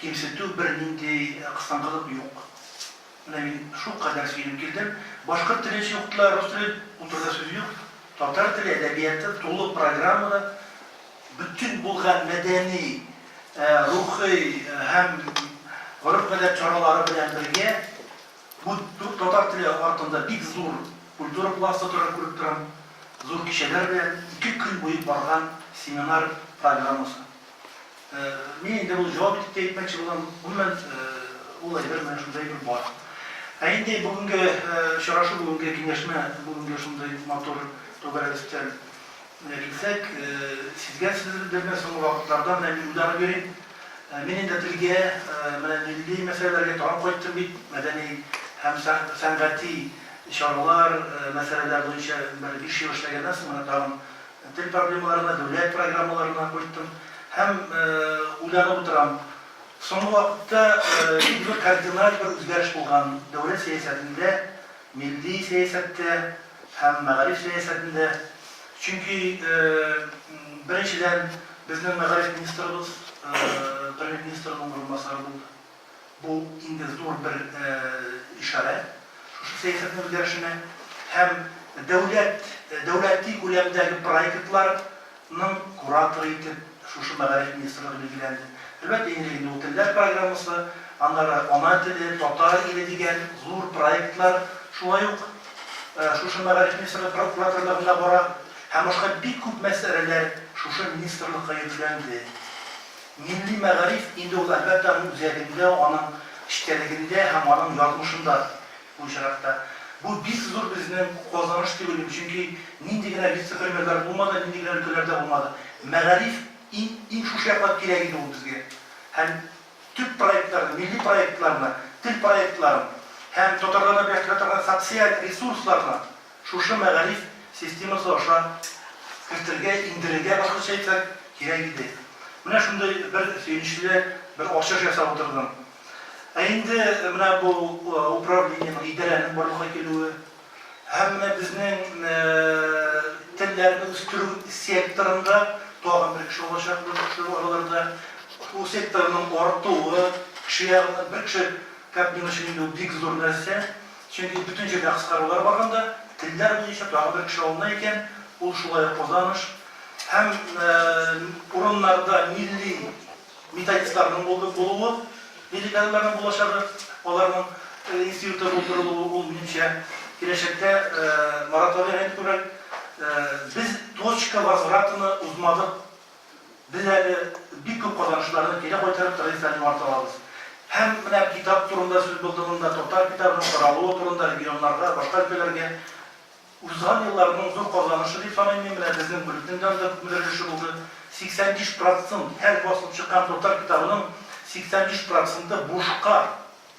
Кимсетү, бернинди кыстангылык юк. Менә мин шулкадәр сөенеп килдем. Башкорт теле өчен укытыла, рус теле, утыруда сүз юк. Татар теле, әдәбияты тулы программада бөтен булган мәдәни, рухи һәм гореф-гадәт чаралары белән бергә, бу татар теле артында бик зур культура пласты тора, күреп торам, зур кичәләр белән ике көн буе барган семинар программасы. Мин инде ул җавап итеп тә әйтмәкче булам, гомумән, ул әйбер менә шундый әйбер бар. Ә инде бүгенге очрашу, бүгенге киңәшмә, бүгенге шундый матур түгәрәк өстәл килсәк, сизгәнсездер инде, соңгы вакытларда менә мин уйланып йөрим. Мин инде телгә, менә милли мәсьәләләргә тагын кайттым бит, мәдәни һәм сәнгати чаралар, мәсьәләләр буенча бер биш ел эшләгәннән соң менә тагын, Тел проблемаларына, дәүләт программаларына кайттым һәм уйланып утырам. Соңгы вакытта бик кардиналь бер үзгәреш булган дәүләт сәясәтендә, милли сәясәттә һәм мәгариф сәясәтендә. Чөнки, беренчедән, безнең мәгариф министрыбыз Премьер-министрның урынбасары булды. Бу инде зур бер ишарәт шушы сәясәтнең үзгәрешенә һәм дәүләт, дәүләти күләмдәге проектларның кураторы итеп шушы Мәгариф министрлыгы билгеләнде. Әлбәттә, иң элек инде ул телләр программасы, аннары Ана теле, Татар иле дигән зур проектлар шулай ук шушы Мәгариф министрлыгы кураторлыгында бара һәм башка бик күп мәсьәләләр шушы министрлыкка йөкләнде. Милли мәгариф инде ул, әлбәттә, аның үзәгендә, аның эчтәлегендә һәм аның язмышында бу очракта. Бу бик зур безнең казаныш түгелме? Чөнки нинди генә вице-премьерлар булмады, нинди генә өлкәләрдә булмады, мәгариф иң, иң шушы яклап кирәк иде ул безгә. Һәм төп проектларны, милли проектларны, тел проектларын һәм татарларны берләштерә торган социаль ресурсларны, Шушы мәгариф системасы аша кертергә, иңдерергә, башкача әйтсәк, кирәк иде. Менә шундый бер сөенечле бер ачыш ясап утырдым. Ә инде менә бу управлениенең, идарәнең барлыкка килүе һәм менә безнең телләрне үстерү секторында тагын бер кеше алачакбыз шул араларда. Бу секторның артуы, кеше ягыннан бер кеше кабинасы өчен инде ул бик зур нәрсә. Чөнки бөтен җирдә кыскарулар барганда, телләр буенча тагын бер кеше алына икән, ул шулай ук Казаныш һәм урыннарда милли методистларның булуы, милли кадрларның булачагы, аларның институты булдырылуы, ул, минемчә, киләчәктә Марат Вәлигайны күрер. Без точка возвратыны узмадык, Без әле бик күп казанышларны кире кайтарып традицияләрне югарта алабыз. Һәм менә китап турында сүз булды монда, татар китабының таралуы турында регионнарга, башка өлкәләргә. Узган елларның зур казанышы дип саныйм мин, менә безнең бүлекнең дә анда күпмедер өлеше булды. 85 процнт, һәр басылып чыккан татар китабының 85 проценты бушка.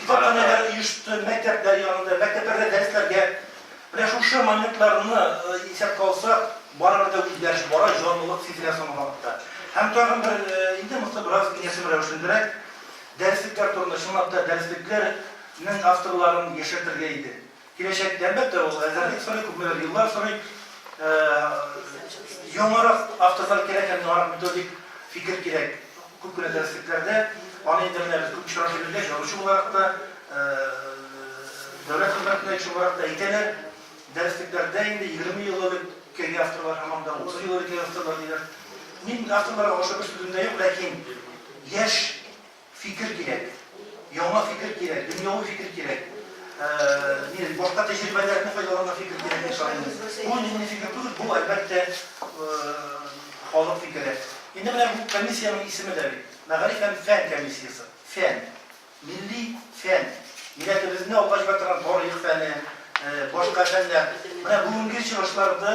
Китапханәләр оешты, мәктәпләр янында, мәктәпләрдә дәресләргә. Менә шушы моментларны исәпкә алсак, барыбер дә үзгәреш бара, җанлылык сизелә соңгы вакытта. Һәм тагын бер, инде монысы бераз киңәшмә рәвешендәрәк, дәреслекләр турында, чынлап та, дәреслекләрнең авторларын яшәртергә иде. Киләчәктә, әлбәттә, ул әзерлек сорый, күпмедер еллар сорый. Яңарак автозал кирәк һәм яңарак методик фикер кирәк. Күп кенә дәреслекләрдә аны инде менә без күп очрак йөргәч, язучы буларак та, дәүләт хезмәтендә кеше буларак та әйтәләр, дәреслекләрдә инде 20 ел элек кергән авторлар һаман да 30 ел элек авторлар диләр. Мин авторларга ошатып сүзем дә юк, ләкин яшь Фикер кирәк. Яңа фикер кирәк, дөньяви фикер кирәк. Нинди башка тәҗрибәләрне файдаланган фикер кирәк дип саныйм. Бу нинди фикер түгел, бу әлбәттә халык фикере. Инде менә бу комиссиянең исеме дә бит, мәгариф һәм фән комиссиясе. Фән. Милли фән. Милләтебезне алга җибәрә торган тарих фәне, башка фәннәр. Менә бүгенге чыгышларда